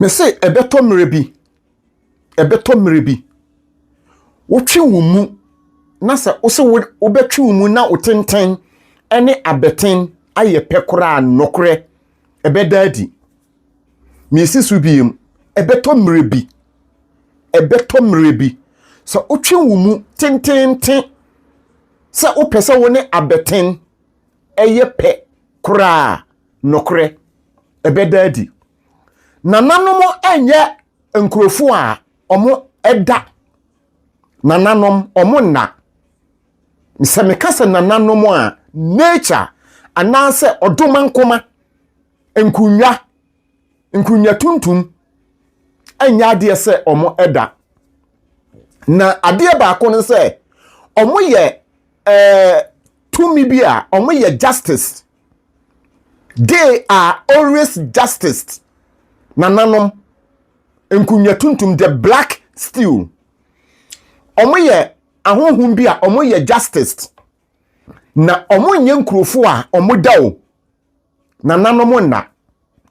Mese ɛbɛtɔ mmerɛ bi, ɛbɛtɔ mmerɛ bi, wotwe wo mu na sɛ wose wobɛtwe wo mu na wo tenten ne abɛten ayɛ pɛ koraa nokorɛ ɛbɛda adi. Mesi so biem, ɛbɛtɔ mmerɛ bi, ɛbɛtɔ mmerɛ bi, sɛ wotwe wo mu tententen sɛ wopɛ sɛ wo ne abɛten ɛyɛ pɛ koraa nokorɛ ɛbɛda adi. Nananom nyɛ nkurɔfoɔ a ɔmo ɛda. Nananom ɔmo nna. Sɛ meka sɛ nananom a, nature anaasɛ ɔdomankoma, nkunnwa, nkunnwa tuntum ɛnyɛ adeɛ sɛ ɔmo ɛda. Na adeɛ baako no sɛ ɔmo yɛ ɛɛ tumi bi a ɔmo yɛ justice They are always justice. Nananom, nkunya tuntum, the black steel. Wɔn yɛ ahohom bi a wɔn yɛ justice. Na wɔn nyɛ nkurofo a wɔn da o. Nananom nna.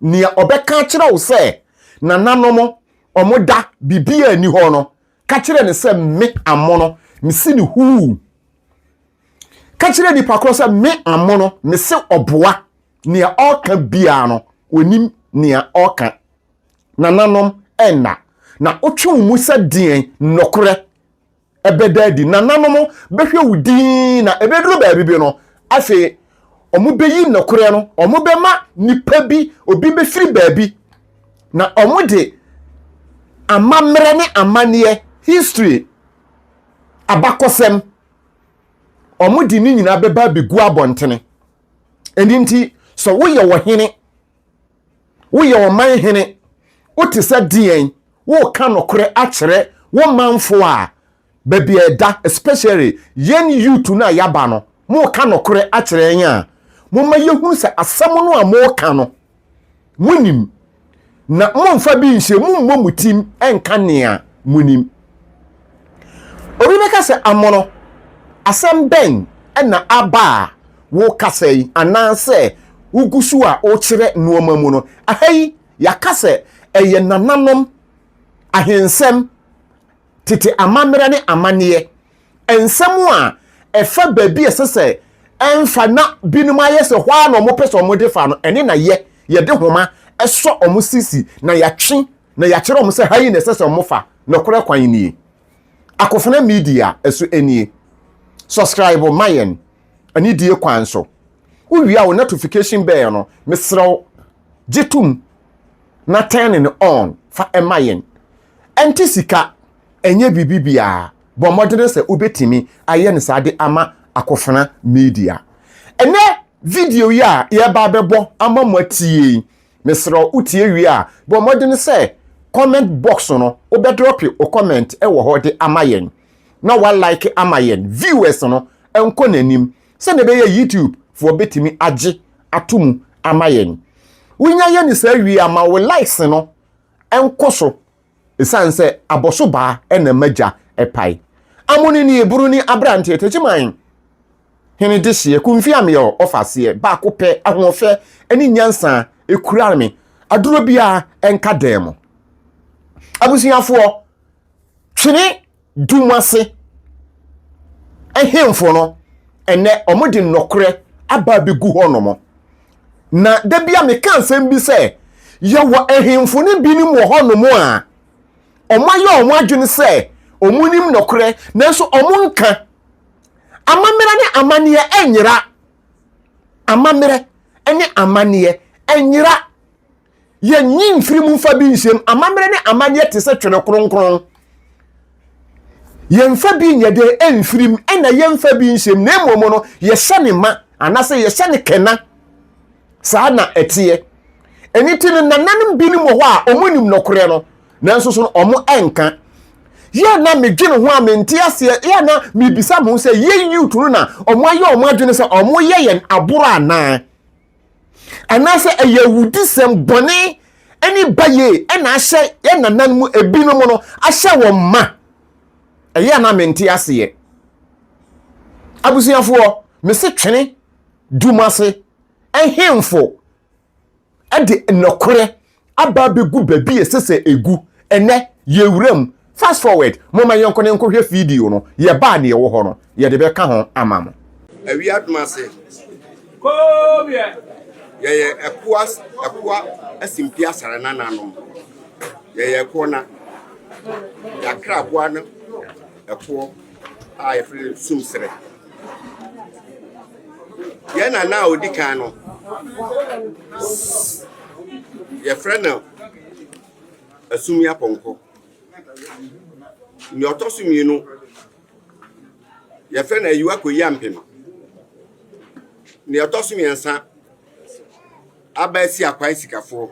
Nea ɔbɛka akyerɛ wo sɛ nananom wɔn da biribiara ni hɔ no, Ka kyerɛ no sɛ me amono, mese no huu. Ka kyerɛ nipa korɔ sɛ me amono, mese ɔboa. Nea ɔreka biara no, ɔnim nea ɔreka. Nananom nna, na wotwe wo mu sɛ deɛn? Nokorɛ bɛda adi. Nananom bɛhwɛ wo dinn, na ɛbɛduru baabi bi no, afei wɔbɛyi nokorɛ no, wɔbɛma nipa bi, obi bɛfiri baabi, na wɔde amammerɛ ne amanneɛ, history, abakɔsɛm, wɔde ne nyinaa bɛba abɛgu abɔntene. Ɛno nti, sɛ woyɛ ɔhene, woyɛ ɔman hene, wote sɛ deɛn, woka nokorɛ akyerɛ wo manfoɔ a, baabi a ɛda especially yɛn youth no a yɛaba no moka nokorɛ akyerɛ yɛn a momma yɛhunu sɛ asɛm no a moka no monim na momfa bi nhyɛ mu mmɔ mo tim nka nea monim obi bɛka sɛ amono asɛm bɛn na aba a wokasa yi anaasɛ wogu so a wokyerɛ nneɛma mu no aha yi yɛaka sɛ ɛyɛ nananom ahensɛm tete amammerɛ ne amanneɛ, nsɛm a ɛfa baabi a ɛsɛ sɛ ɛmfa na binom ayɛ sɛ hɔ ara na wɔpɛ sɛ wɔde fa no, ɛne na yɛ, yɛde nhoma sɔ wɔn sisi na yɛatwe na yɛakyerɛ wɔn sɛ ha yi na ɛsɛ sɛ wɔfa nokorɛ kwan nie. Akofena Media ɛso nie. Subscribe ma yɛn anidie kwan so. Wowie a wo notification bell no, mesrɛ wo gye tom na turn no on fa ɛma yɛn. ɛnte sika, ɛnyɛ biribi biara. Bɔ mmɔden sɛ wubetumi ayɛ no saa de ama Akofena Media. Ɛnnɛ video yi a yɛreba abɛbɔ ama mo atie yi, mesrɛ wo, wotie wie a, bɔ mmɔden sɛ comment box no, wobɛdrɔpe wo comment wɔ hɔ de ama yɛn, na woalike ama yɛn viewers no nkɔ n'anim, sɛnea ɛbɛyɛ YouTube foɔ bɛtumi agye ato mu ama yɛn. Wonya yɛ no saa wie a, ma wo likes no nkɔ so esiane sɛ abɔso baa na ɛma gya pae. Amoni ne Hebroni aberante Tegyeman hene dehyeɛ kumfia me ɔ ɔfa aseɛ baako pɛ ahoɔfɛ ne nyansa ɛkura me aduro biara ɛnka dan mu abusuafoɔ twene dum ase ahemfo no, ɛnɛ wɔde nnɔkorɛ aba abɛgu hɔnom. Na da bi a meka nsɛm bi sɛ, yɛwɔ ahemfo no binom wɔ hɔnom a, wɔayɛ wɔn adwene sɛ wɔn nim nɔkorɛ, nanso wɔn nka. Amammerɛ ne amanneɛ ɛnyera. Amammerɛ ne amanneɛ ɛnyera. Yɛnyi mfiri mu mfa bi nhyɛm. Amammerɛ ne amanneɛ te sɛ twene kronkron. Yɛmfa bi nyɛ dɛ ɛmfiri mu, ɛna yɛmfa bi nhyɛm, na mmom no yɛhyɛ ne ma, anaasɛ yɛhyɛ ne kɛna. Saa na ɛteɛ. Ɛno ti no, nananom binom wɔ hɔ a wɔnim nɔkorɛ no, nanso so no wɔn ɛnka. Yɛ na medwene ho a mente aseɛ, yɛ na mebisa mo ho sɛ yɛ youth no na wɔn ayɛ wɔn adwene sɛ wɔn yɛ yɛn aboro anaa? anaasɛ ɛyɛ awudisɛm bɔne ne bayie ɛna ahyɛ yɛn nanan mu ebinom no ahyɛ wɔn ma ɛyɛ a na mente aseɛ abusuafoɔ mese twene dum ase ɛhemfo ɛde nnɔkorɛ aba abegu baabi a ɛsɛ sɛ egu. Ɛnnɛ, yɛn wuram. Fast forward, Momma yɛnkɔ na yɛnkɔhwɛ video no, Yɛba a Nea Ɔwɔ Hɔ no. Yɛde bɛka ho ama mo. Awie adom ase, yɛyɛ ɛkoa ɛkoa asimpi asare nananom. Yɛyɛ ɛkoɔ na yɛakra aboa no ɛkoɔ. a yɛfrɛ no sumserɛ. Yɛn nana a ɔdi kan no, yɛfrɛ no asumi apɔnkɔ. Nea ɔtɔ so mmienu, yɛfrɛ no ayiwa kɔyi ampem. Nea ɔtɔ so mmiɛnsa, aba asi akwan sikafoɔ.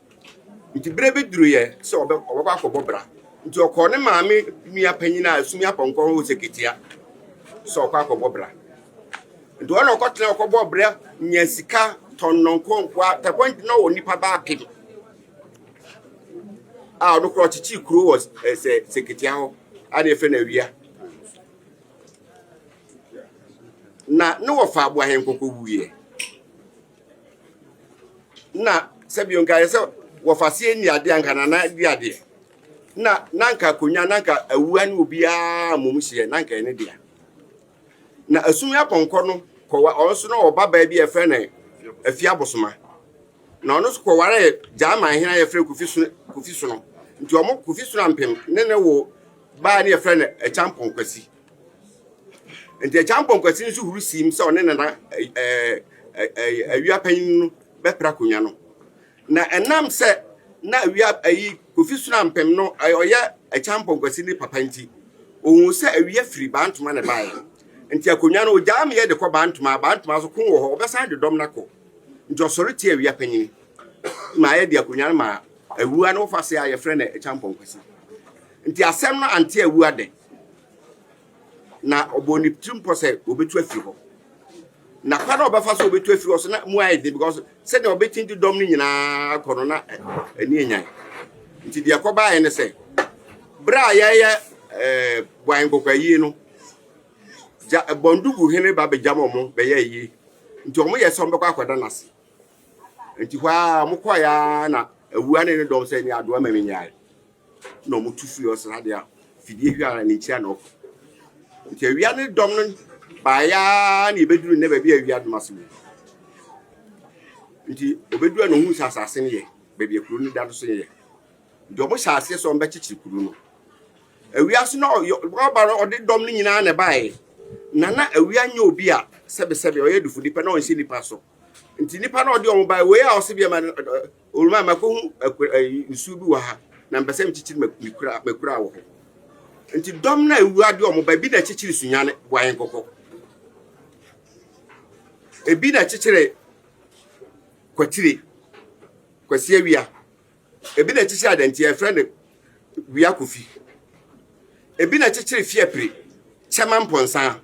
Enti bere bi duruiɛ sɛ ɔbɛ, ɔbɛkɔ akɔbɔ bra. Nti ɔkɔɔ ne maame nua panyin a ɛsumi apɔnkɔ ho sɛketia sɛ ɔkɔ akɔbɔ bra. Nti ɔna ɔkɔtena ɔkɔbɔ bra nya sika tɔnnɔ nkonkoa tɛkɔ nti na ɔwɔ nipa baa pem a ɔno korɔ ɔkyekyee kuro wɔ sɛ sɛketia hɔ a ne yɛfrɛ no awia na ne wɔfa aboahenkɔkɔ wuiɛ na sɛbi nka yɛ sɛ wɔfa seɛ ni adeɛ anka nana di adeɛ na na nka akonnwa na nka awua ne obiara mmom hyeɛ na nka ɛne dea na asum apɔnkɔ no kɔwa ɔno nso na ɔba baa bi a yɛfrɛ no afi abosoma na ɔno nso kɔware gyaman hene a yɛfrɛ kofi so kofi so no nti ɔmo kofi so ampem ne ne wo baa ne yɛfrɛ no akyampɔn kwasi Enti Agya Mpɔnkwasi nso huru siim sɛ ɔne Nana awia panyin no bɛpere akonnwa no. Na ɛnam sɛ na awia ayi Kofi Sonampem no ɔyɛ Agya Mpɔnkwasi ne papa nti, ohuu sɛ awia firi Bantoma na ɛbaeɛ. Nti akonnwa no ogyaa meyɛ de kɔ Bantoma, Bantoma nso ko wɔ hɔ, ɔbɛsan de dɔm no akɔ. Nti ɔsɔre tia awia panyin ma yɛde akonnwa no maa awua no wɔfa ase a yɛfrɛ no Agya Mpɔnkwasi. Nti asɛm no ante awua dɛ. Na ɔbɔɔ ne tirim pɔ sɛ obetu afi hɔ. Na kwan a ɔbɛfa so obetu afi hɔ so na mu ayɛ den because sɛdeɛ ɔbɛkyin de dɔm no nyinaa kɔ no na ani enyan. Nti deɛ ɛkɔbaeɛ ne sɛ bere a yɛyɛ ɛɛ eh, bɔn nkɔkɔ ayie no gya bɔn dugu hene ba bɛgyam wɔn bɛyɛ ayie nti wɔn yɛ sɛ wɔn bɛkɔ akɔda n'ase nti hɔ a wɔkɔɛ a na awua ne ne dɔm sɛ ne adoa ma menyae na ɔmo tu firi hɔ sradeɛ a fidie hwɛ ara ne nkyiri a na ɔkɔ nti awia ne dɔm no baayɛ ara na ebeduru nnɛ baabi a awia dɔm ase wɔ nti obeduru a na ohun sɛ asase no yɛ baabi a kuro no da no so yɛ nti ɔmo hyɛ aseɛ sɛ ɔmo bɛkyekyere kuro no awia so na ɔba no ɔde dɔm no nyinaa na ɛbaeɛ na na awia nyɛ obi a sɛbesɛbe ɔyɛ dufo nipa na ɔnhyɛ nipa so nti nipa na ɔde ɔmo baeɛ wei a ɔsɛ bi ɛma Owura, makohu akura eh, nsuo bi wɔ ha na mpɛ sɛ mekyekyere m'akura m'akura wɔ hɔ. Nti dɔm no a ewura de wɔn ba ebi na ɛkyekyere sunyane boa yɛn kɔkɔ. Ebi na ɛkyekyere kwatire, kwasi awia. Ebi na ɛkyekyere adantia ɛfrɛ no wia kofi. Ebi na ɛkyekyere fiapire, kyɛma mpɔnsa.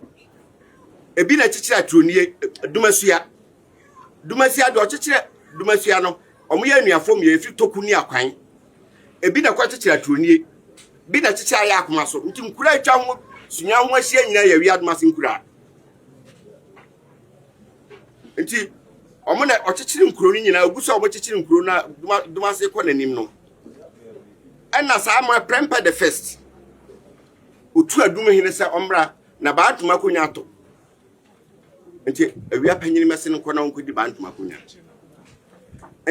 Ebi na ɛkyekyere aturonie, dumasua. Dumasia deɛ ɔkyekyerɛ Dumasia no wɔn yɛ anuafo mmiɛ efiri toku ne akwan ebi na ɛkɔ kyekyere aturonie bi na kyekyere ayɛ akoma so nti nkura atwa ho sunya ho ahyia nyinaa yɛ awia adomase nkura nti wɔn na ɔkyekyere nkuro no nyinaa ogu so a wɔkyekyere nkuro na adomase kɔ n'anim no ɛna saa mo ɛprɛmpɛ the first otu adum hene sɛ ɔmmra na baatoma akonnwa ato. nti awia panyin mɛse no nkɔ na ɔnkɔdi baa ntoma konya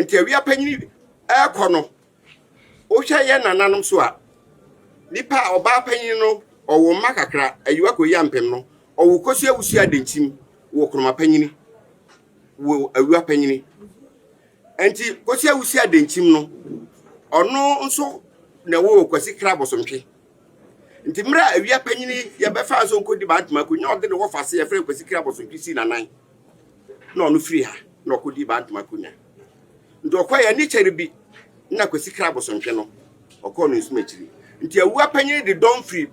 nti awia panyin ɛrekɔ no wohwɛ yɛ nananom so a nipa a ɔbaa panyin no ɔwo mma kakra ayiwa kɔyi ampem no ɔwo kɔsi awusi adenkyim wɔ kuroma panyin wɔ awia panyin nti kɔsi awusi adenkyim no ɔno nso na ɛwɔ kwasi kra bɔsomtwe nti mmerɛ a awia panyin yi yɛbɛfa nso nkɔdi bantama akonya ɔde ne wɔfase yɛfrɛ Kwasi Kira Bɔsotwe sii n'anan na ɔno firi ha na ɔkɔdi bantama akonya nti ɔkɔ yɛ ne kyɛre bi na Kwasi Kira Bɔsotwe no ɔkɔɔ no nsum akyiri nti awua panyin de dɔm firi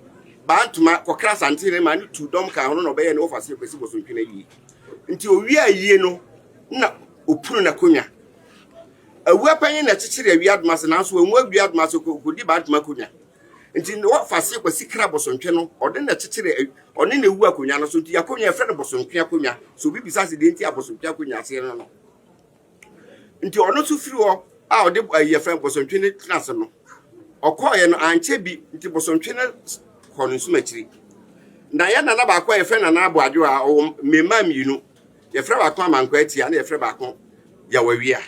bantama kɔkra asante ne ma ne tu dɔm ka ho na ɔbɛyɛ ne wɔfase Kwasi Bɔsotwe no ayie nti ɔwie ayie no na ɔpunu n'akonya Awua panyin na ɛkyekyere awia doma ase nanso wanwu awia doma ase ɔkɔdi baa doma akonnwa. Nti na wɔfa aseɛ kwasi kra bɔsɔntwe no ɔde na ɛkyekyere ɔne na ɛwu akonnwa no so nti akonnwa ɛfrɛ no bɔsɔntwe akonnwa so obi bisa se deɛ nti a bɔsɔntwe akonnwa aseɛ no no nti ɔno nso firi hɔ a ɔde ayi ɛfrɛ bɔsɔntwe no tena ase no ɔkɔɔyɛ no ankyɛ bi nti bɔsɔntwe no kɔ no nsum akyiri na yɛ nana baako a yɛfrɛ nana aboadwo a ɔwɔ mmemaa mmienu Yɛfrɛ baako Amankwaatia na yɛfrɛ baako Yawawia.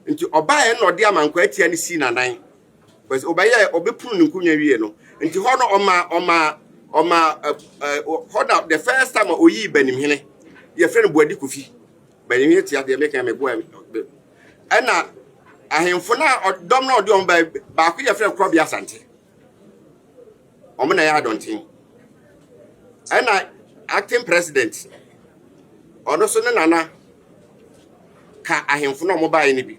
Nti ɔbaeɛ na ɔde Amankwaatia no sii n'anan. Because ɔbɛyɛ ɔbɛpunu ne nkonnwa wie no. Nti hɔ no ɔma ɔma ɔma hɔ na the first time ɔyii Banimhene. Yɛfrɛ no Boadi Kofi. Banimhene tia deɛ meka me boa ɛna ahemfo na dɔm na ɔde wɔn baako yɛfrɛ Korɔbea Asante. wɔn na ɛyɛ adɔnten. Ɛna acting president, ɔno nso ne nana ka ahemfo no a wɔbaeɛ no bi.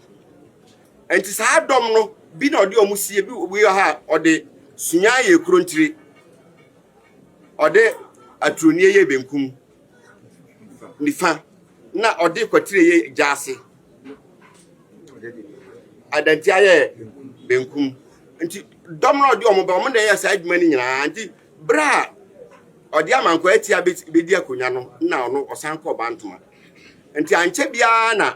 Nti saa dɔm no, bi na ɔde wɔn sie, bi wɔ ha a ɔde sunyaan yɛ kurontire, ɔde aturonie yɛ benkum nifa, na ɔde kwatire yɛ gyaase. adanti ayɛ benkum nti dɔm na ɔde wɔn ba wɔn na ɛyɛ saa adwuma no nyinaa nti bere a ɔde amankwa atia bedi akonnwa no na ɔno ɔsan kɔ bantoma nti ankyɛ biara na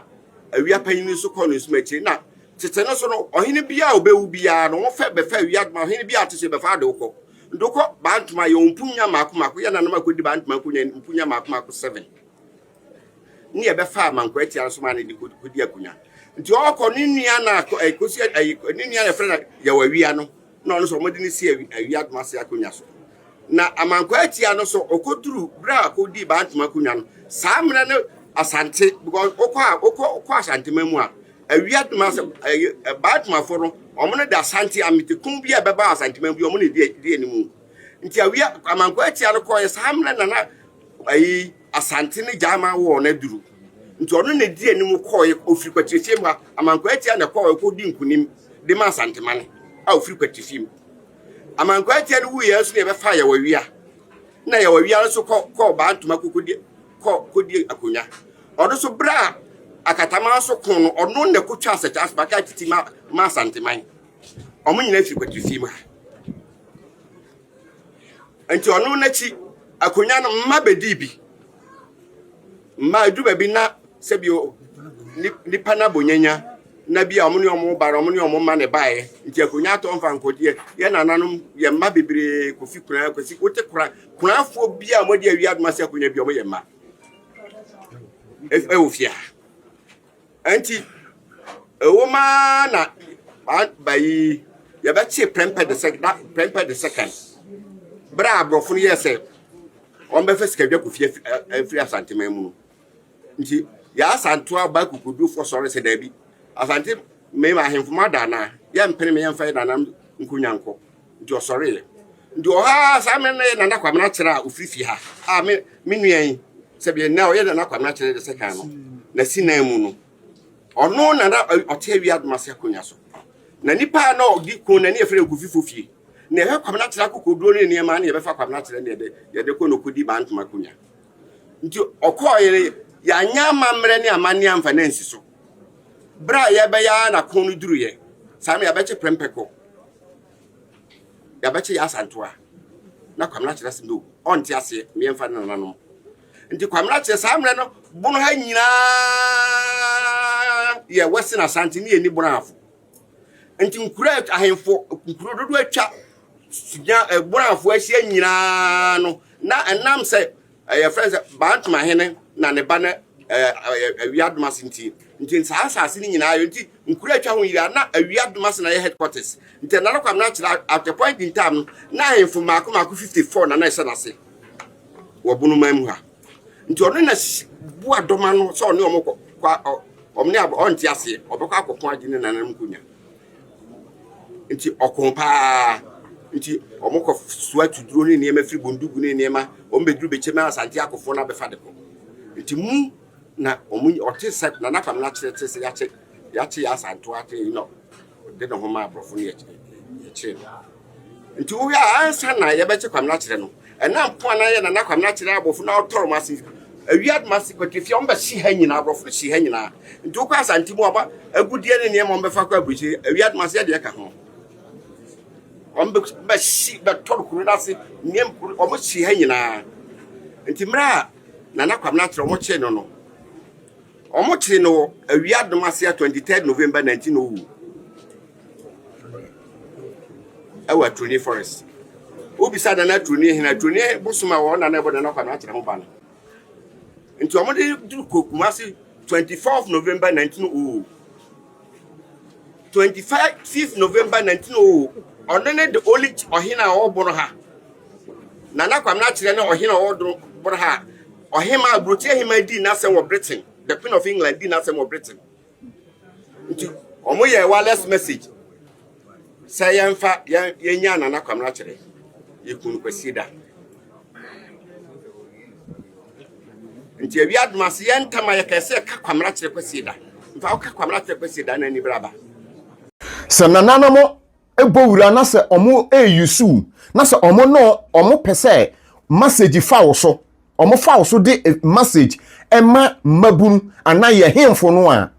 awia panyin nso kɔ ne nsoma akyiri na tete no so no ɔhene biara a ɔbɛwu biara no wɔfɛ bɛfɛ awia adwuma ɔhene biara ate sɛ bɛfa ade wokɔ ndokɔ bantoma yɛ wɔn mpunya mako mako yɛ nanam akɔdi bantoma mpunya mpunya mako mako seven ne ɛbɛfa amanko atia no so maa no de kodi akonya nti ɔkɔ ne nua na ɛkosi eh, ɛyi eh, ne nua na ɛfrɛ na yɛwɔ awia no na ɔno nso wɔde ne si awia doma ase akonya so na amanko atia no so ɔkɔduru berɛ a ɔkɔdii bantoma akonya no saa mmerɛ no asante because ɔkɔ a ɔkɔ ɔkɔ asantema mu a awia doma ase ɛyɛ eh, bantomafoɔ no wɔn no de asante ametekun bi a ɛbɛba asantema bi wɔn na ɛdi ɛdi anim nti awia amanko atia no kɔɔ yɛ saa mmerɛ na na ayi Asante ne Gyama wɔɔ no aduru. Nti ɔno na di anim kɔe ofiri Kwatirifie mu ha. Amankwaa Atia na ɛkɔɔ ɛkɔ di nkunim de ma Asantemane a ofiri Kwatirifie mu. Amankwaa Atia no wuiɛ nso na yɛbɛfaa Yawawia na Yawawia nso kɔ kɔɔ baa ntoma kɔkɔdi kɔ kɔdi akonnwa. Ɔno nso berɛ a akatama nso ko no ɔno na ɛkɔtwa asɛkyɛ asomaka titi ma ma Asanteman. Wɔn nyinaa firi Kwatirifie mu ha. Nti ɔno n'akyi akonnwa no mma bɛdii bi. Mma ɛdu baabi na sɛbi nipa no abɔnyanya na bi a ɔmo ne ɔmo ba no ɔmo ne ɔmo ma ne baeɛ. Nti akonnwa atɔ mfa nkɔdeɛ. Yɛ nananom yɛ mma bebree kofi koraa kwasi wote koraa koraafoɔ bi a wɔde awi adoma sɛ akonnwa bi ɔmo yɛ mma. Ɛwɔ fie ha. Enti, ɛwom ara na saa ba yi, yɛbɛkyee prɛmpɛ de sɛ da prɛmpɛ de sɛ kan. Bere a aborɔfo no yɛɛ sɛ wɔbɛfa sikadwakofie afi- a- afiri Asanteman mu no, nti yɛn asanto aba akokodurufoɔ sɔre sɛ daabi, Asanteman ahemfo moada anaa? Yɛmpene me yɛmfa yɛn nananom nkonnwa nkɔ. Nti ɔsɔreeɛ. Nti wɔ ha a, saa mmerɛ no na ɛyɛ Nana Kwamena Kyere a ɔfiri fie ha a me me nua yi sɛdeɛ nnɛ ɔyɛ Nana Kwamena Kyere de sɛ kan no n'asi nan mu no. Ɔno na na ɔ- ɔte awie adom ase akonnwa so. Na nipa a na ɔdi ko na ne yɛfrɛ no Kofi Fofie. Na yɛhwɛ Kwamena Kyere akokoduro ne nneɛma ne yɛbɛfa Kwamena Kyere ne yɛde yɛde kɔ na ɔkɔdi baa ntoma akonnwa. Nti ɔkɔɔeɛ no yɛanyɛ amammerɛ ne amanneɛ amfa no ansi so. Berɛ a yɛbɛyɛ ara na ko no duruiɛ saa no yɛabɛkye prɛmpɛ kɔ. Yɛabɛkye Yaa Asantewaa na Kwame akyerɛ ase no ɔnte aseɛ meɛmfa ne nananom nti Kwame akyerɛ saa mmerɛ no bono ha nyinaa yɛ Western Asante ne yɛni bono afo nti nkuro ahemfo nkuro dodo atwa bono afo ahyia nyinaa no na ɛnam sɛ yɛfrɛ no sɛ Bantama hene na ne ba no awia domase nti nti saa asase no nyinaa yɛ nti nkura atwa ho yira na awia domase na yɛ headquarters nti na no kwam na akyerɛ at the point in time na ahemfo mako mako 54 na na ɛhyɛ n'ase wɔ bono man mu ha nti ɔno na bu adɔma no sɛ ɔne ɔmo kɔ ɔmo ne ɔnte aseɛ ɔbɛkɔ akɔko agye ne nanam nkonya Nti ɔko paa. Nti wɔkɔ soa tuduro ne nneɛma firi bondugu ne nneɛma. Wɔn bɛduru bɛkyɛ mu asante akofoɔ no abɛfa de kɔ. Nti mu na wɔn ɔte sɛ nana kwame no akyerɛ te sɛ yɛakyɛ yɛakyɛ yɛ asantoa te yi na ɔde ne ho ma aborɔfo no yɛkyɛ yɛkyɛ no. Nti wohwɛ a ansa na yɛbɛkye Kwamina kyerɛ no, ɛna mpo a na yɛ Nana Kwamina kyerɛ aborɔfo na ɔtɔre wɔn ase awi adoma ase kwati fie a wɔbɛhye ha nyinaa aborɔfo no hye ha nyinaa. Nti wokɔ Asante mu aba agudeɛ ne nneɛma wɔbɛfa kɔ aburukyiri awi adoma ase ɛdeɛ ka ho. Wɔbɛhye bɛtɔre kuro no ase nneɛma wɔhye ha nyinaa. Nti mmerɛ a Nana Kwamina kyerɛ wɔn kyerɛ no no wɔkyere no wɔ awi adoma ase a 23 November 1900. ɛwɔ aturoni forest wobisa nana aturoni hene aturoni bosom a wɔn nana ɛbɔ nana kwa no akyerɛ ho ba no nti wɔn de duru kɔ kumase twenty fourth november nineteen oh twenty five fifth november nineteen oh ɔno ne the only ɔhene a ɔbɔ no ha nana kwa no akyerɛ ne ɔhene a ɔbɔ no ha ɔhema aburokyerɛ hema di n'asɛm wɔ britain the queen of england di n'asɛm wɔ britain. nti wɔn yɛ wireless message sɛ yɛnfa yɛn yɛnya nana kwamina kyerɛ yɛkunu kwasi da nti awi adum ase yɛn ntam a yɛka sɛ ka kwamina kyerɛ kwasi da nfa ka kwamina kyerɛ kwasi da na ani braba. sɛ nananom bɔ wura na sɛ ɔmo eyusu na sɛ ɔmo no ɔmo pɛ sɛ message fa wo so ɔmo fa wo so de eh, message ɛma mmabunu anaa yɛ hemfo no a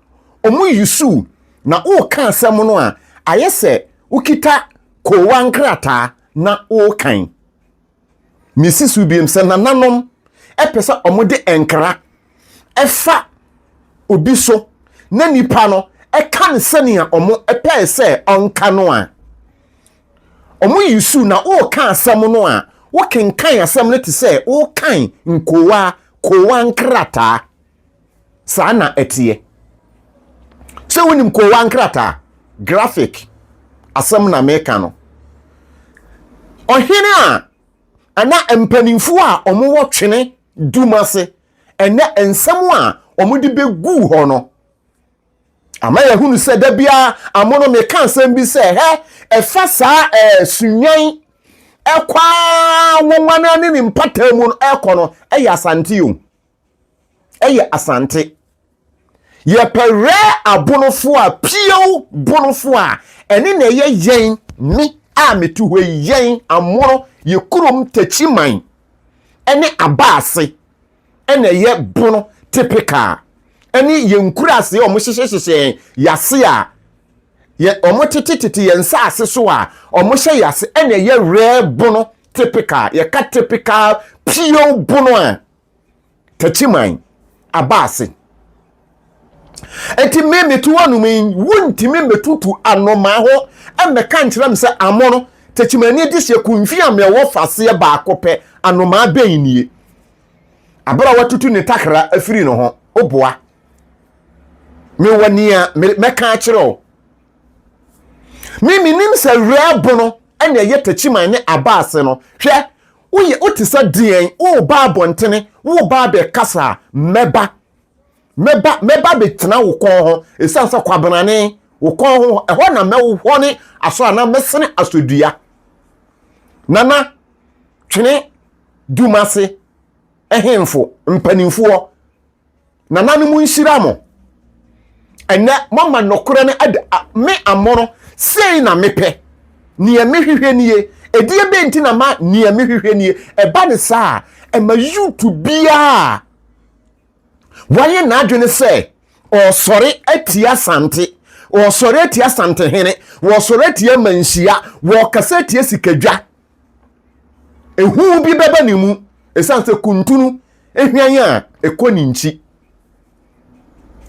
ɔmo yusu na ɔɔka asɛm no a ayɛ sɛ wokita koowa nkrataa na ɔɔkan mesi so biem sɛ nananom ɛpɛ sɛ wɔde nkra ɛfa obi so na nipa no ɛka no sɛnea wɔn ɛpɛɛ sɛ ɔnka no a wɔn yi su na wɔreka asɛm no a wɔkenkan asɛm no te sɛ wɔrekan nkowaa kowaa nkrataa. Saa na ɛteɛ. Sɛ wonim koowa nkrataa, graphic, asɛm na meka no. Ɔhene a ɛna mpanimfoɔ a wɔwɔ twene dum ase ɛnɛ nsɛm a wɔde bɛgu hɔ no ama yɛahunu sɛ da biara amono meka asɛm bi sɛ hɛ ɛfa saa ɛɛ sunwan ɛkɔ a wɔn ne ne mpataa mu no ɛkɔ no ɛyɛ asante o ɛyɛ asante yɛpɛ rɛ abonofo a piew bonofo a ɛne na ɛyɛ yɛn me a metu hɔ yi yɛn amono yɛ kurom takyiman ɛne abaase ɛna ɛyɛ bono typical ɛne yɛn nkuraase a wɔn hyehyɛhyehyɛ yɛn yase a yɛ wɔn tete tete yɛn nsaase so a wɔn hyɛ yase ɛna ɛyɛ rɛ bono typical yɛka typical piew bono a Takyiman aba ase. Enti me meto hɔ nom yi, wontumi mmetutu anomaa hɔ mmɛka nkyerɛ me sɛ amono takyimani adehyeɛ kunfi a mewɔ faseɛ baako pɛ anomaa bɛn nie. Abere a watutu ne takra afiri ne ho, woboa. Mewɔ nea mɛka akyerɛ wo. Me menim sɛ werɛ bono ɛna ɛyɛ takyiman ne aba ase no. Hwɛ, Woyɛ, wote sɛ deɛn? Woreba abɔntene, woreba abɛkasa a, mɛba. Mɛba, mɛba abɛtena wo kɔn ho, ɛsiane sɛ kwabenane, wo kɔn ho, ɛhɔ na mɛhɔne asɔ anaa mɛsene asɔ dua. Nana, twene, Dumase, ɛhenfo, mpanimfoɔ. nananom nhyira mo ɛnɛ moama nɔkorɛ no ɛde me amono sei na mepɛ neɛ mehwehwɛ nie ɛdeɛ bɛ nti na ma neɛ mehwehwɛ nie ɛba ne saa ɛma yutu biaa wayɛ n'adwene sɛ ɔsɔre atia sante wɔsɔre atia santehene wɔsɔre atia manhyia wɔkasa atia sikadwa ehu bi bɛba ne mu esiane sɛ kuntunu ehwian a ɛkɔ ne nkyi.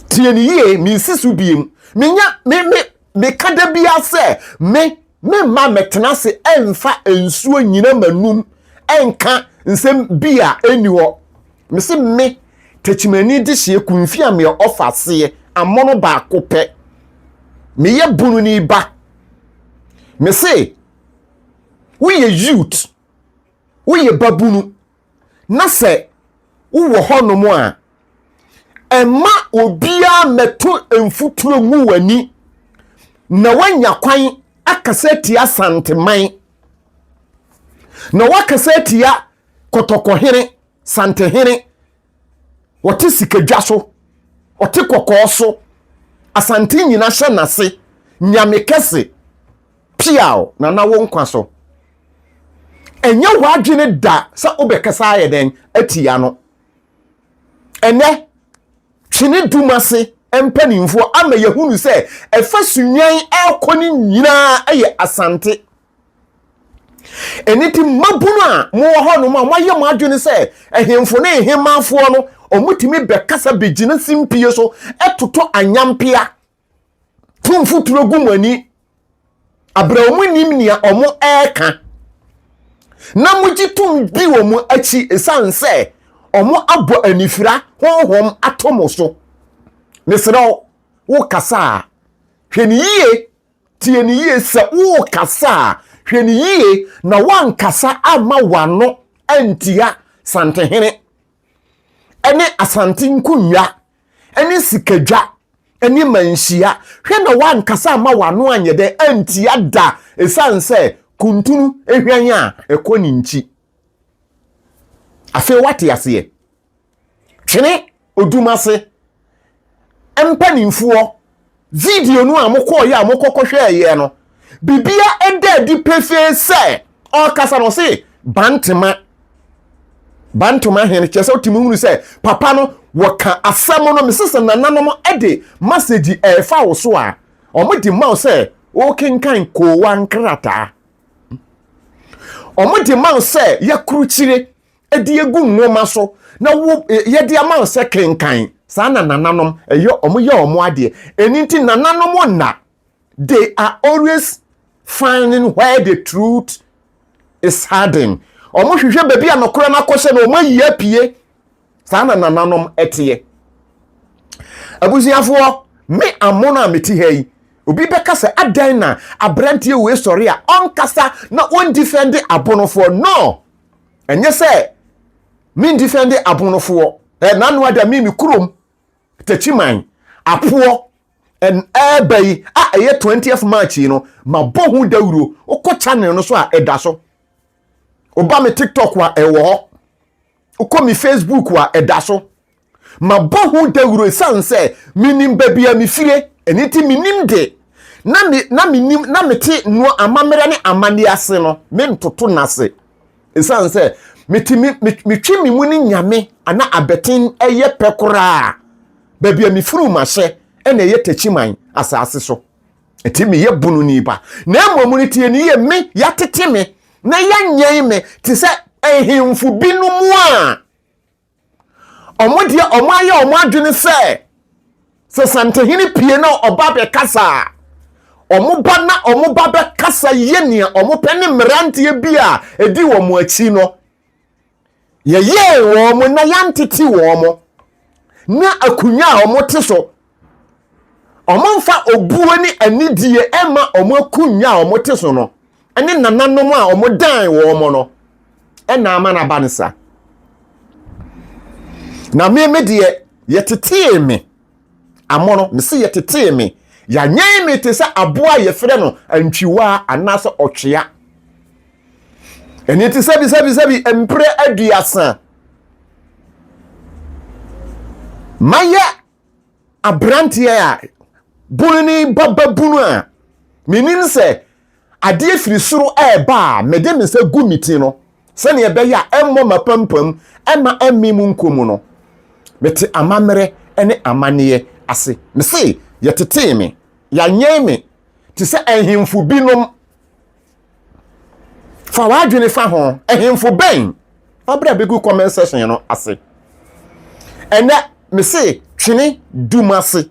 Tie ne yie, mensi so biem. Menya me me meka da biara sɛ me me mma mɛtena ase ɛmfa nsuo nyina m'anum ɛnka nsɛm bi a ɛnni hɔ. Mese me Tekyimani Dehyeɛ Kumfi Ameɛ Ɔfaseɛ amono baako pɛ. Meyɛ Bununi ba. Mese woyɛ youth woyɛ babunu na sɛ wowɔ hɔnom a ɛma obiara mmɛto mfuturo ngu w'ani na woanya kwan akasa atia santeman na woakasa atia kɔtɔkɔhene santehene wɔte sikadwa so ɔte kɔkɔɔ so asante nyina hyɛ n'ase nyame kɛse Piaw na na wo nkwa so. Ɛnyɛ w'adwene da sɛ wobɛkasa ayɛ dɛn atia no. Ɛnnɛ, twene dum ase mpanimfoɔ ama yɛhunu sɛ ɛfa Sunnwan ɛrekɔ no nyinaa yɛ Asante. Ɛno nti mmabunu a mowɔ hɔnom a moayɛ mo adwene sɛ ahemfo ne ahemmanfoɔ no, wɔtumi bɛkasa bɛgyina simpie so totɔ anyampea to mfuturo gu mo ani abrɛ wɔn nim nea wɔn ɛreka na mogye tom di wɔn akyi ɛsiane sɛ wɔn abɔ anifira honhom ato mo so mesrɛ wo wokasa a hwɛ ne yie tie ne yie sɛ wokasa a hwɛ ne yie na woankasa ama wano antia santehene ɛne asante nkonnwa ɛne sikadwa ɛne manhyia hwɛ na wankasa ama wano anyɛ dɛ antia da ɛsiane sɛ kuntunu ehwan a ɛkɔ ne nkyi afei wate aseɛ twene odum ase mpanimfoɔ video no a mokɔɔyɛ a mokɔkɔhwɛɛ yɛ no bibia ɛda adi pefee sɛ ɔkasa no ɔse bantema bantoma hene kyerɛ sɛ wotumi hunu sɛ papa no wɔka asɛm no mese sɛ nananom de masagyi ɛɛfa wo so a ɔmo de ma wo sɛ wokenkan koowa nkrataa ɔmo de ma wo sɛ yɛakorokyire de agu nwoma so na wo yɛde ama wo sɛ kenkan saa na nananom ɛyɛ wɔn yɛ wɔn adeɛ ɛni nti nananom nna they are always finding where the truth is hiding wɔn hwehwɛ baabi a nɔkorɛ no akɔhyɛ na wɔn ayi apue saa na nananom ɛteɛ abusuafoɔ me amono a meti ha yi obi bɛka sɛ adan na aberanteɛ wei sɔre a ɔnkasa na ɔndifɛnde abonofoɔ no ɛnyɛ sɛ me ndifɛnde abonofoɔ ɛ nano ada me me kurom takyiman apoɔ ɛn ɛɛba yi a ɛyɛ 20th march yi no ma bɔ ho dawuro wokɔ channel no so a ɛda so woba me tiktok a ɛwɔ hɔ wokɔ me facebook a ɛda so Mabɔ ho dawuro esiane sɛ minim baabi a mifire, ɛno nti minim de, na me na minim na mete noa amammerɛ ne amanneɛ ase no, mentoto no ase. Esiane sɛ mete me metwe me mu ne Nyame ana abɛten ɛyɛ pɛ koraa, baabi a mifiri mahyɛ ɛna ɛyɛ Takyiman asaase so, ɛti meyɛ bununi ba, na mmom no tie ne yɛ me yɛatete me na yɛanyɛn me te sɛ nhemfo binom a. Wɔn deɛ wɔn ayɛ wɔn adwene sɛ sɛ santehene pie na ɔba bɛkasa a wɔn ba na wɔn ba bɛkasa yɛ nea wɔn pɛ ne mmeranteɛ bi a ɛdi wɔn akyi no yɛyɛɛ wɔn na yɛantete wɔn na akonnwa a wɔte so wɔmfa obuo ne anidie ɛma wɔn akunnwa a wɔte so no ne nananom a wɔdan wɔn no ɛna ama no aba no sa na me me deɛ yɛtetee me amono me se yɛtetee me yɛanyɛn me te sɛ aboa a yɛfrɛ no antwiwaa anaasɛ ɔtwea ɛne te sɛ bisabisɛbi mprɛ aduasa mayɛ aberanteɛ a bunu ne ba babunu a menim sɛ adeɛ firi soro ɛreba a mede me nsa gu me ti no sɛdeɛ ɛbɛyɛ a ɛmmɔ m'apampam ɛma ɛmme mu nkɔ mu no mete amammerɛ ne amanneɛ ase me se yɛtetee me yɛanyɛn me te sɛ ahemfo binom fa w'adwene fa ho ɛhemfo bɛn fabere a bɛgu comment section no ase ɛnɛ mese twene dum ase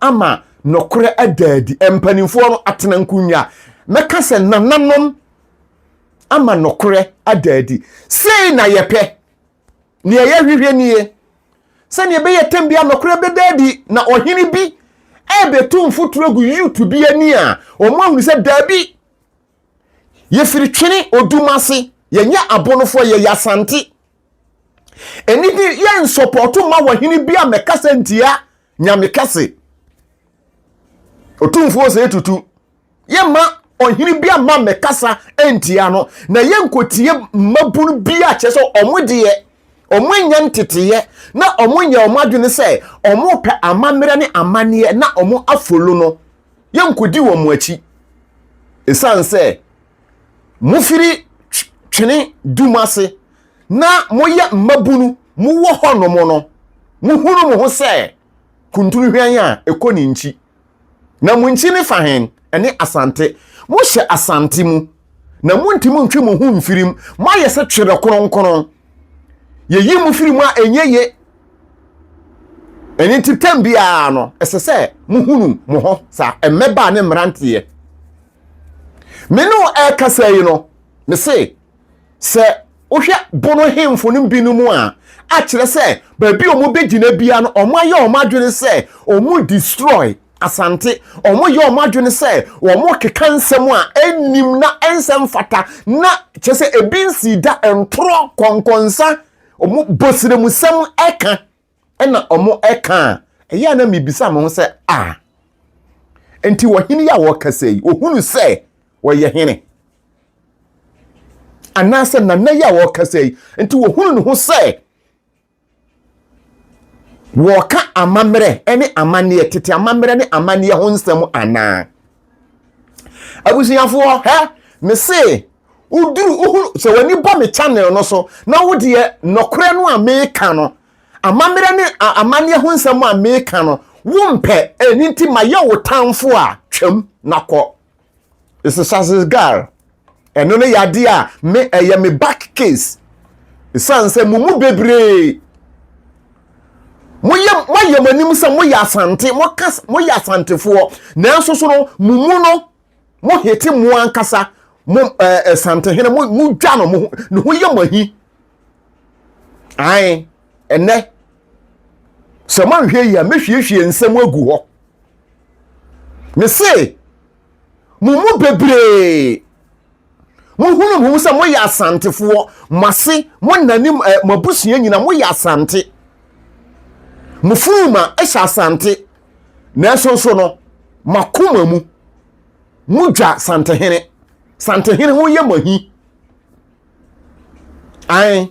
ama nɔkorɛ adaadi mpanimfoɔ no atena nkonnwa mɛka sɛ nananom ama nɔkorɛ adaadi sei na yɛpɛ Nea ɛyɛ hwehwɛ nie, sɛnea ɛbɛyɛ atɛm bi a nɔkorɛ bɛda adi na ɔhene bi ɛrebɛtu mfoturo agu youth bi ani a wɔn ahunu sɛ daabi yɛfiri twene odum ase yɛnyɛ abonofoɔ yɛyɛ asante ɛni bi yɛ nsɔpɔto ma wɔhene bi a mɛkasa ntia nyame kɛse ɔtumfoɔ sɛ tutu yɛmma ɔhene bi amma mmɛkasa antia no na yɛnkotie mmabun bi a kyerɛ sɛ ɔmo deɛ ɔmo anya nteteeɛ na ɔmo nyɛ ɔmo adwene sɛ ɔmo pɛ amammerɛ ne amanneɛ na ɔmo afolo no yɛnkodi wɔn akyi ɛsiane sɛ mofiri twene du mu ase na moyɛ mmabunu mowɔ hɔnom no mohunu mo ho sɛ kuntunu hwan a ɛkɔ ne nkyi Na mo nkyi ne fa hen? Ɛne Asante. Mohyɛ Asante mu, na montumi ntwe mo ho mfiri mu. Moayɛ sɛ twerɛ kronkron. Yɛyi mo firi mu a ɛnyɛ ye. Ɛno nti tam biara no, ɛsɛ sɛ mohunu mo ho saa mmɛbaa ne mmeranteɛ. Me ne wo ɛrekasa yi no, mese Sɛ wohwɛ bono hemfo no binom a, akyerɛ sɛ baabi a wɔbɛgyina bia no, wɔayɛ wɔn adwene sɛ wɔn destroy Asante. Wɔyɛ wɔn adwene sɛ wɔn keka nsɛm a ɛnnim na ɛnsɛ mfata na kyerɛ sɛ ebi nsii da ntorɔ kɔnkɔnsa wɔn bɔsrɛmusɛm ɛka ɛna wɔka a, ɛyɛ a na mebisa me ho sɛ, a, nti ɔhene yi a wɔkasa yi, ɔhunu sɛ ɔyɛ hene? Anaasɛ nana yi a wɔkasa yi, nti ɔhunu ne ho sɛ wɔka amammerɛ ne amanneɛ, tete amammerɛ ne amanneɛ ho nsɛm anaa? abusuafoɔ hɛ mese woduru wohu sɛ w'ani bɔ me channel no so na wodeɛ nɔkorɛ no a meka no amammerɛ ne amanneɛ ho nsɛm a meka no wompɛ ɛni nti mayɛ wo tamfo a twam na kɔ esesazgar Ɛno no yɛ adeɛ a me ɛyɛ me back case. Ɛsiane sɛ mo mu bebree moyɛ moayɛ mo anim sɛ moyɛ asante moka moyɛ asantefoɔ nanso so no mo mu no mo hete mo ankasa mo ɛɛ eh, asantehene eh, mo mo dwa no mo ne ho yɛ mo ahi ae ɛnɛ sɛ moanhwɛ yi a mɛhwiehwie nsɛm agu hɔ me se Mo mu bebree, mohunu mo ho sɛ moyɛ asantefoɔ, mo ase, mo nna ne mo abusua nyina, moyɛ asante. Mo funuma hyɛ asante, nanso nso no, makoma mu, modwa santehene. Santehene ho yɛ mo ahi. Ae.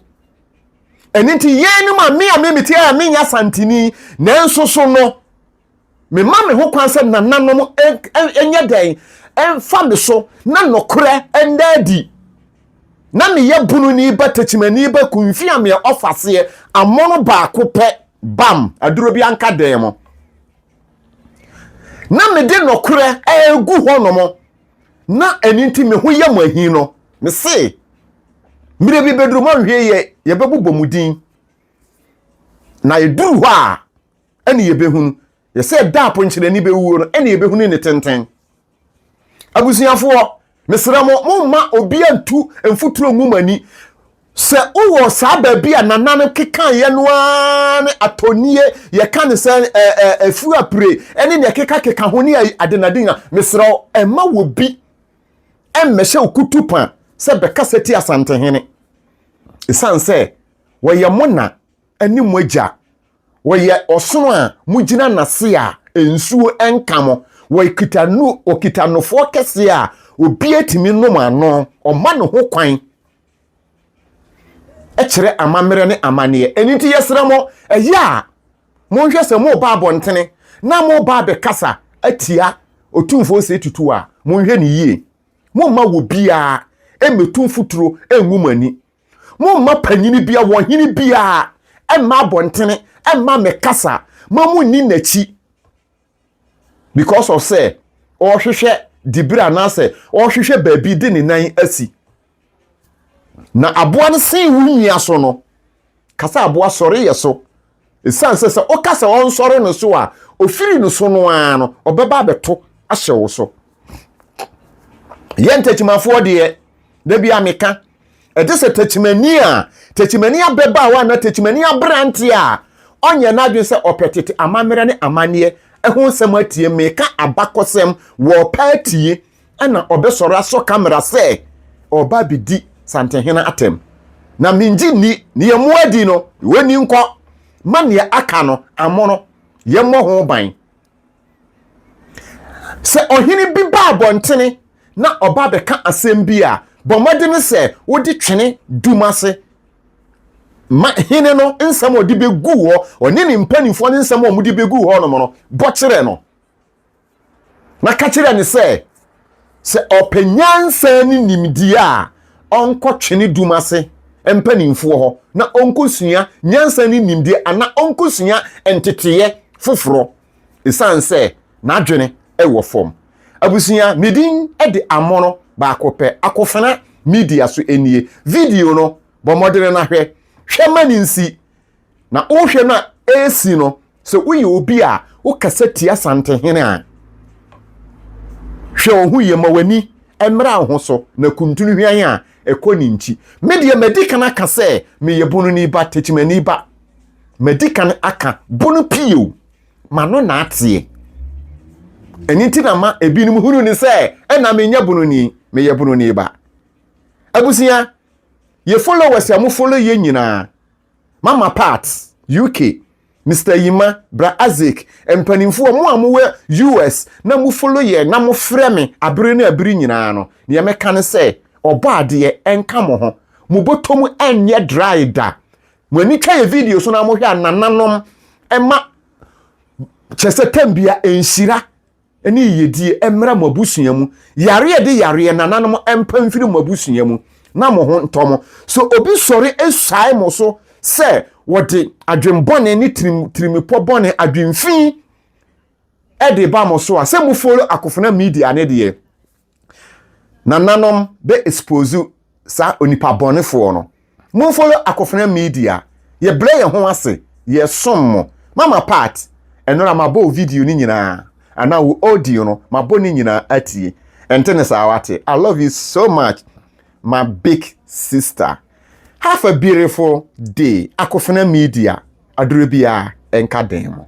Ɛno nti yɛn no ma me a me mete a menyɛ asanteni, nanso so no, Mema me ho kwan sɛ nananom nyɛ dɛn mfa me so na nokorɛ nda adi. Na meyɛ bununi ba, tekyimani ba, kunfi a meɛ ɔfaseɛ, amono baako pɛ, bam, aduro bi anka dɛn mo. Na mede nokorɛ ɛregu hɔ nom, na ɛni nti me ho yɛ mo ahi no, me se, mmerɛ bi bɛduru mo anhwɛ yɛ, yɛbɛbobɔ mo din. Na ɛduru hɔ a, ɛne yɛbɛhunu yɛ sɛ da a ponkyerɛni bɛwuo no ɛne yɛbɛhunu ne tenten abusuafoɔ mesrɛ mo momma obi antu mfuturo ngu mo ani sɛ wowɔ saa baabi a nana no kekaeɛ no ara ne atɔnie yɛka ne sɛ afuo apire ɛne ne ɛkekakeka ho ne adenade a mesrɛ wo ɛma wɔ bi ɛmmɛhyɛ wo kutu pa sɛ bɛkasa ti asantehene ɛsiane sɛ wɔyɛ mo na ne mo Agya. Ɔyɛ ɔsono a mogyina n'ase a nsuo nka mo. Ɔkita nu, ɔkita nofoɔ kɛseɛ a obiara tumi nom ano. Ɔma ne ho kwan kyerɛ amammerɛ ne amanneɛ. Ɛno nti yɛsrɛ mo, ɛyɛ a monhwɛ sɛ moreba abɔntene na moreba abɛkasa atia Otumfoɔ Osei Tutu a, monhwɛ no yie. Momma obiara mmɛtu mfuturo ngu mo ani. Momma panyini biara, ɔhene biara, ɛmma abɔntene, ɛmma me kasa, ma mo nni n'akyi. Because of sɛ, ɔrehwehwɛ dibere anaasɛ ɔrehwehwɛ baabi de ne nan asi. Na aboa no sen wo nua so no, kasa aboa sɔre yɛ so. Esiane sɛ sɛ woka sɛ ɔnsɔre no so a, ofiri no so no ara no, ɔbɛba abɛto ahyɛ wo so. Yɛn takyimafoɔ deɛ, da bi a meka, ɛte sɛ takyimani a takyimani ababaawa anaa takyimani aberanteɛ a ɔnyɛ n'adwene sɛ ɔpɛ tete amammerɛ ne amanneɛ ɛho nsɛm atie. Meka abakɔsɛm, wɔpɛ atie. Ɛna ɔbɛsɔre asɔ camera sɛ ɔreba abɛdi Santehene atɛm. Na mengye nni, ne yɛmmɔ adi no, wɔnni nkɔ, ma nea aka no, amono, yɛmmɔ ho ban. Sɛ ɔhene bi ba abɔntene na ɔba abɛka asɛm bi a, bɔ mmɔdene sɛ wode twene dum ase ma hene no nsɛm a ɔde bɛgu hɔ, ɔne ne mpanimfoɔ no nsɛm a wɔde bɛgu hɔ nom no, bɔ kyerɛ no. Na ka kyerɛ no sɛ, sɛ ɔpɛ nyansa ne nimdeɛ a, ɔnkɔtwe ne dum ase mpanimfoɔ hɔ na ɔnkɔsua nyansa ne nimdeɛ anaa ɔnkɔsua nteteeɛ foforɔ, ɛsiane sɛ n'adwene wɔ fam. Abusua, me din de Amono baako pɛ, Akofena Media so nie. Video no, bɔ mmɔdene na hwɛ. Hwɛ ma no nsi. Na wohwɛ no a ɛresi no, sɛ woyɛ obi a wokasa tia Asantehene a, hwɛ wo ho yie ma w'ani mmra wo ho so na kuntunu hwan a ɛkɔ ne nti. Me deɛ madi kan aka sɛ meyɛ Bononi ba, Tekyimani ba. Madi kan aka Bono pii o, m'ano na ateɛ. Ɛno nti na ma ebinom hunu ne sɛ ɛna menyɛ Bononi, meyɛ Bononi ba. Abusua, yɛ followers a mo follow yɛ nyinaa, Mama Pat, UK, Mister Yima, Bra Isaac, mpanimfoɔ, mo a mowɔ US na mo follow yɛn na mo frɛ me abere ne abere nyinaa no, nea mɛka ne sɛ, Ɔbɔ adeɛ nka mo ho. Mo bɔtɔm nyɛ dry da. Mo ani twa yɛ video so na mo hwɛ a nananom ma kyɛsɛ tɛm bia nhyira ne yiyedie mmra mo abusua mu. Yareɛ de yareɛ nananom mpa mfiri mo abusua mu na mo ho ntɔ mo. Sɛ obi sɔre suae mo so sɛ wɔde adwenbɔne ne tirim tirimipɔ bɔne adwenfii de ba mo so a, sɛ mo follow Akofena Media no deɛ, Nananom bɛ expose saa onipa bɔne foɔ no. Mo follow Akofena media. Yɛ brɛ yɛn ho ase. Yɛ som mo. Mama part ɛno ara ma bɔ wo video no nyinaa anaa wo audio no ma bɔ ne nyinaa atie. Ɛnte ne saa wate. I love you so much my big sister. Have a beautiful day Akofena media aduro biara nka den mo.